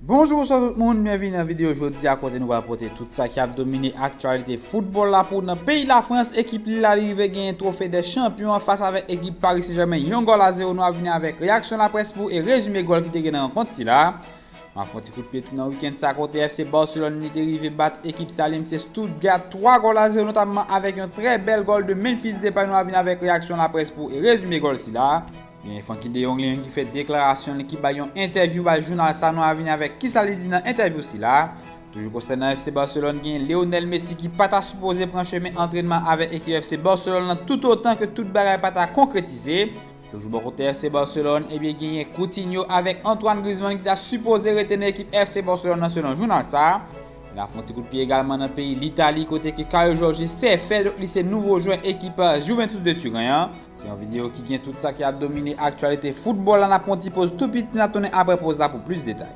Bonjou bonswa tout moun, byenvini nan videyo jodi a kote nou pral pote tout sa ki ap domine aktyalite foutbòl la pou nan peyi Lafrans ekip Lille la rive genyen twofe dè chanpyon an fas avèk ekip Paris Saint Germain yon gòl a zewo nou ap vini avèk reyaksyon laprès pou e rezime gòl ki te gen nan rankont sila a map fon ti kout pye tou nan wikend sa kote FC Barcelone li te rive bat ekip sa li menm se Stuttgart 3 gòl a zewo notamman avèk yon trè bèl gòl de Memphis Depay nou ap vini avèk reyaksyon laprès pou e rezime gòl sila a. Genyen Funky De Jong li menm ki fè deklarasyon li ki bay yon entèvyou bay jounal sa nou a vini avèk kisa li di nan entèvyou sila a, toujou konsènan FC Barcelone genyen Lionel Messi ki pa ta sipoze pran chemen antrènman avèk ekip FC Barcelone lan toutotan ke tout bagay pa ta konkretize, toujou bò kote FC Barcelone ebyen genyen Coutinho avèk Antoine Griezmann ki ta sipoze rete nan ekip FC Barcelone lan selon jounal sa a. E nap fè yon ti kout pye egalman nan peyi Litali kote ke Caio Jorge se fè donk li se nouvo jwè ekip Juventus de Turen an. Se yon videyo ki gen tout sa ki ap domine aktyalite foutbòl la, n ap pran yon ti poz tou piti, n ap tounen aprè poz la pou plis detay.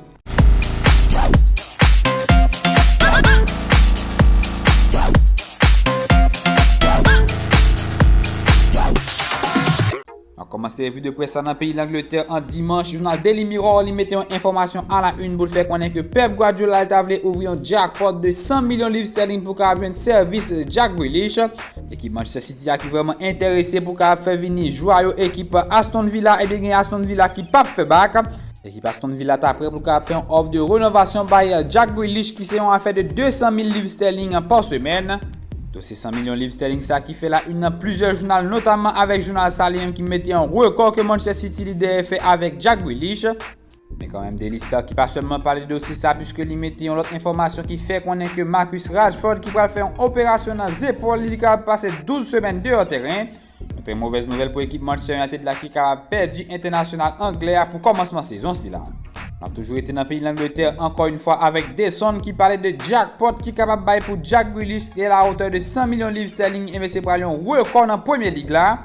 N ap kòmanse revi de près la nan peyi Langletè an dimanch, jounal Daily Mirror li mete yon enfòmasyon a la yn pou l fè konnen ke Pep Guardiola li ta vle ouvri yon jackpot de 100 milyon liv sterling pou kapab jwenn sèvis Jack Grealish, Ekip Manchester City a ki vrèman enterese pou ka ap fè vini jwa yo ekip Aston Villa ebyen gen Aston Villa ki pap fè bak. Ekip Aston Villa ta prè pou ka ap fè yon òf de renovasyon bay Jack Grealish ki se yon afè de 200 mil liv sterling pa semèn. Dosye 100 milyon liv sterling sa ki fè la yn nan plizyè jounal notamman avèk jounal sa li menm ki mete yon rekò ke Manchester City li dèyè fè avèk Jack Grealish. Men kanmenm Daily Star ki pa sèlman pale de dosye sa puiske li mete yon lòt enfòmasyon ki fè konnen ke Marcus Rashford ki pral fè yon operasyon nan zepòl li li kapab pase 12 semèn deyò tèren, yon trè movèz nouvèl pou ekip Manchester United la ki kapab pèdi entènasyonal anglè a pou kòmansman sezon sila. N ap toujou rete nan peyi Langletè ankò yon fwa avèk The Sun ki pale de jackpot ki kapab bay pou Jack Grealish e la hauteur de 100 milyon liv sterling e mesye pral yon rekò nan Premier League la.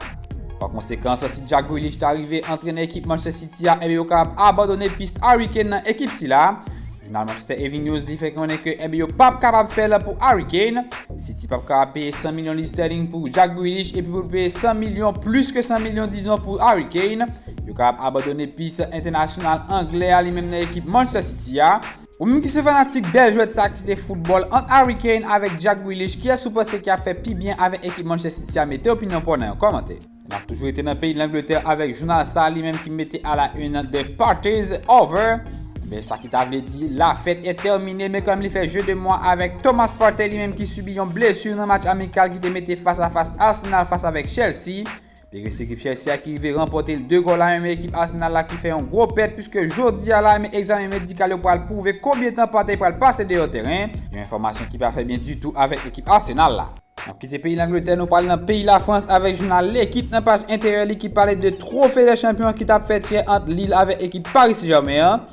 Pa konsekan, si Jack Grealish ta rive antrene ekip Manchester City a, enbe yo kapab abandone pist Harry Kane nan ekip sila. Jounal Manchester Evening News li fè konnen ke enbe yo pap kapab fè la pou Harry Kane. City pap kapab peye 100 milyon liv sterling pou Jack Grealish epi pou peye 100 milyon plis ke 100 milyon dizon pou Harry Kane. Yo kapab abandone pist entènasyonal anglè a li menm nan ekip Manchester City a. Ou menm ki se fanatik bèl jwèt sa ki se foutbòl ant Harry Kane avèk Jack Grealish kiyès ou panse ki ap fè pi byen avèk ekip Manchester City a mete opinyon paw nan yon kòmantè. Nap toujou rete nan peyi Langletè avèk jounal sa li menm ki mete a la une the party is over ebyen sa ki ta vle di la fête est terminée men kanmenm li fè jeu de moi avèk Thomas Partey li menm ki sibi yon blessure nan match amikal ki te mete fas a fas Arsenal fas avèk Chelsea Peresie ekip Chelsea a ki rive ranpòte 2 gòl a 1 men ekip Arsenal la ki fè yon gwo pèt puiske jodi a la men egzamen medikal yo pral pwouve konbyen tan Partey pral pase deyò tèren, yon enfòmasyon ki pa fè byen ditou avèk ekip Arsenal la. N ap kite peyi Langletè nou pral nan peyi Lafrans avèk jounal L'Equipe nan paj enteryè li ki pale de Trophée des Champions ki t ap fèt yè ant Lille avèk ekip Paris Germain an.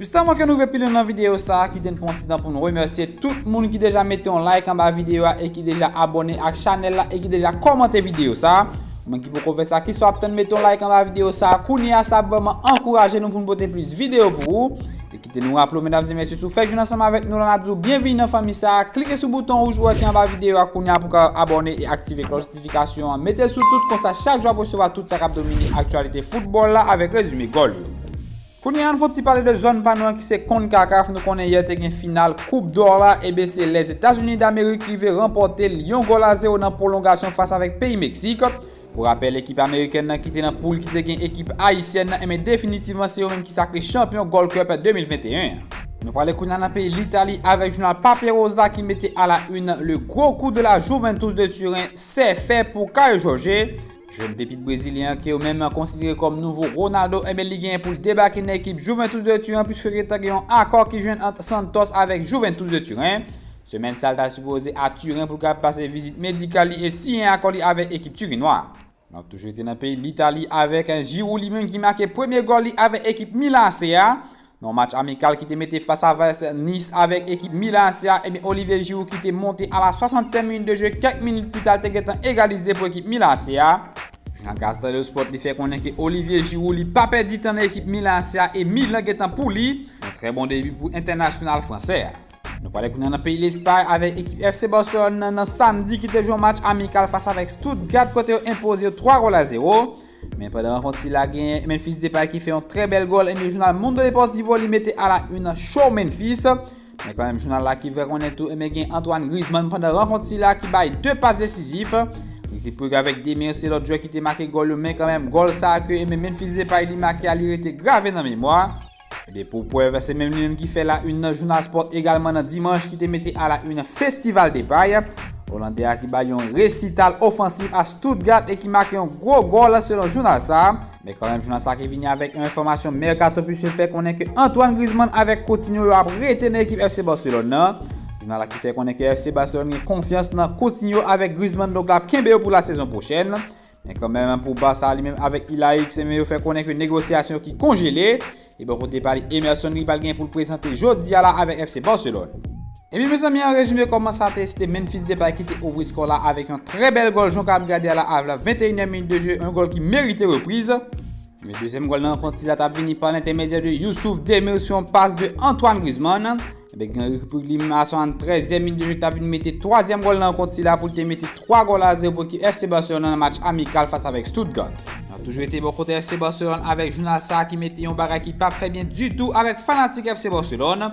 Jistaman ke nou ve pilen nan video sa a kite n pran yon ti tan pou n remèsye tout moun ki deja mete yon like anba video a e ki deja abòne ak chanèl la e ki deja kòmante video sa a pou moun ki poko fè sa kisa w ap tann mete yon like anba video sa a kounye a sa ap vrèman ankouraje nou pou n pote plis video pou ou e kite nou raple w medam e mesye si w fèk jwenn ansanm avèk nou la n ap di w byenvini nan fanmi sa a klike sou bouton wouj ou a ki anba video a kounye a pou w ka abòne e aktive klòch notifikasyon an mete l sou tout konsa chak jou w ap resevwa tout sa k ap domine aktyalite foutbòl la avèk rezime gòl yo. Kounye a an fon ti pale de zòn pa nou an ki se Concacaf, nou konnen yè te gen final koup dò la eben se Lèzetazini Damerik rive ranpòte l yon gòl a zewo nan pwolongasyon fas avèk peyi Meksik. Pou rapèl ekip amerikèn nan ki te nan poul ki te gen ekip ayisyèn nan eben definitivman se yo menm ki sakre chanpyon Gold Cup 2021 an. Nou prale kounye a nan peyi Litali avèk jounal Pape Rose la ki mete a la une le gros coup de la Juventus de Turen sè fè pou Kayo Jòje. Jèn pepit brezilyen an ke yo menm konsidere kòm nouvo Ronaldo enben li genyen pou l debake nan ekip Juventus de Turen pwiske gentan gen yon akò ki jwenn ant Santos avèk Juventus de Turen. Semèn sa l ta sipoze a Turen pou l ka pase vizit medikal li e siyen akò li avèk ekip Turinwa a. N ap toujou rete nan peyi Litali avèk Giroud li menm ki make premye gòl li avèk ekip Milan AC a. Nan yon match amikal ki te mete fas a fas Nice avèk ekip Milan AC a, ebyen Olivier Giroud ki te monte a la 60 minit de jwe kèk minit pita l te gentan egalize pou ekip Milan AC a. Jan Gazeta dello Sport li fè konnen ke Olivier Giroud li pa pèdi tan nan ekip Milan AC a e Milan gentan pou li. Yon trè bon debi pou entènasyonal fransè a. Nou prale kounye a nan peyi Lespay avèk ekip FC Barcelone nan nan samdi ki te jwe yon match amikal fas avèk Stuttgart kote yo enpoze yo 3 gòl a 0. Men pandan rankont sila genyen Memphis Depay ki fè yon trè bèl gòl e men jounal Mundo Deportivo li mete a la une show Memphis. Men kanmenm jounal la ki fè konnen tou e men gen Antoine Griezmann pandan rankont sila ki bay 2 pas desizif. Ricky Puig avèk Demir se lòt jwè ki te make gòl yo men kanmenm gòl sa ke e men Memphis Depay li make a li rete grave nan memwa. Ebyen pou prèv, se menm li menm ki fè la une nan jounal Sport egalman nan Dimanche ki te mete a la une Festival Depay. Olandè a ki bay yon resital ofansif a Stuttgart e ki make yon gwo gòl selon jounal sa. Men kanmenm jounal sa ki vini avèk yon enfòmasyon mèkato puiske fè konnen ke Antoine Griezmann avèk Coutinho yo ap rete nan ekip FC Barcelone nan. Jounal la ki fè konnen ke FC Barcelone gen konfyans nan Coutinho avèk Griezmann donk l ap kenbe yo pou la sezon pwochèn. Men kanmenm pou Barça li menm avèk Ilaix se men yo fè konnen ke negosyasyon ki konjele. E bò kote pali Emerson li pral gen pou l prezante jodi a la avèk FC Barcelone. Ebyen mezanmi an rezime kòman sa te se te Memphis Depay ki te ouvri skò la avèk yon trè bèl gòl jan w kapab gade a la avla 21 èm minit de je yon gòl ki merite repriz. Men dezyèm gòl nan rankont sila ta vini pa lentèmedyè de Youssouf Demir sou yon pas de Antoine Griezmann. Ebe gen Rick li menm a 73 e minit de jwet ta vini mete twazyèm gòl nan rankont sila pou l te mete 3 gòl a 0 pou ekip FC Barcelona nan match amikal fas avèk Stuttgart. Nan toujou rete bò kote FC Barcelona avèk jounal sa ki mete yon bagay ki pap fè byen ditou avèk fanatik FC Barcelona.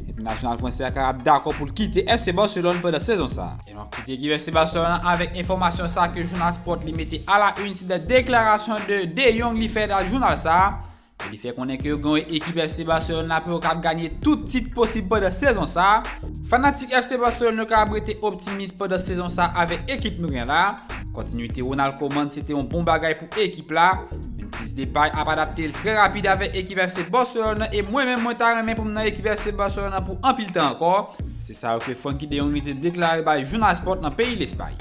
Entènasyonal fransè a ka ap dakò pou l kite FC Barcelone pandan sezon sa. E nou ap kite ekip FC Barcelone an avèk enfòmasyon sa ke jounal Sport li mete a la une se de deklarasyon de De Jong li fè nan jounal sa, e li fè konnen ke yo gen yon ekip FC Barcelone la pou yo kab ganye tout tit posib pandan sezon sa. Fanatik FC Barcelone yo ka ap rete optimis pandan sezon sa avèk ekip nou gen la. Kontinuite Ronald Koeman se te yon bon bagay pou. ekip la, Memphis Depay ap adapte l trè rapid avèk ekip FC Barcelone nan e mwen menm mwen ta renmen pou m nan ekip FC Barcelone nan pou anpil tan ankò, se sa ke Francky de Jong te deklare bay Jounal Sport nan peyi Lespay.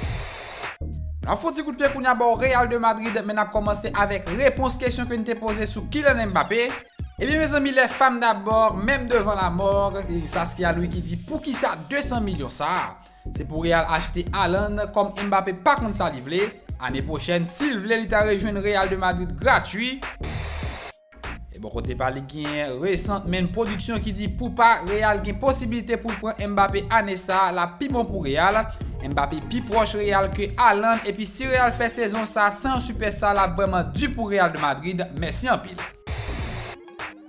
N ap fon ti kout pye kounya bò Real de Madrid men n ap kòmanse avèk repons kesyon ke n te poze sou Kylian Mbappé. Ebyen mezanmi les femmes d'abord, même devant la mort, Saskia Louis ki di poukisa 200 milyon sa? Se pou Real achte Haaland kòm Mbappé pa konn sa li vle, ane pwochèn si l vle li ta rejwenn Real de Madrid gratwi. E bò kote pa li genyen Recent Main Production ki di poupa Real gen posibilite pou l pran Mbappé ane sa a lap pi bon pou Real. Mbappé pi pwòch Real ke Haaland epi si Real fè sezon sa a san yon sipèsta lap vrèman di pou Real de Madrid. Mèsi anpil.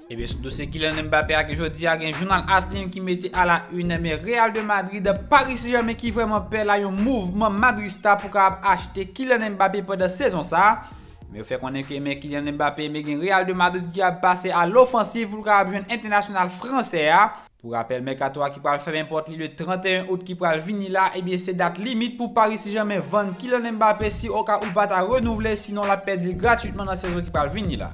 Ebyen sou dosye Kylian Mbappé a ke jodi a gen jounal as li ki mete a la une men Real de Madrid, Paris Saint Germain ki vreman pè la yon mouvman madrista pou kapab achte Kylian Mbappé pandan sezon sa. Men yo fè konnen ke men Kylian Mbappé men gen Real de Madrid ki ap pase a lofansiv pou l kapab jwenn entènasyonal fransè a. Pou rapèl mèkato a ki pral fèmen pòt li le 31 out ki pral vini la ebyen se dat limit pou Paris Saint Germain vann Kylian Mbappé si oka ou pa ta renouvle sinon l ap pèdi l gratwitman nan sezon ki pral vini la.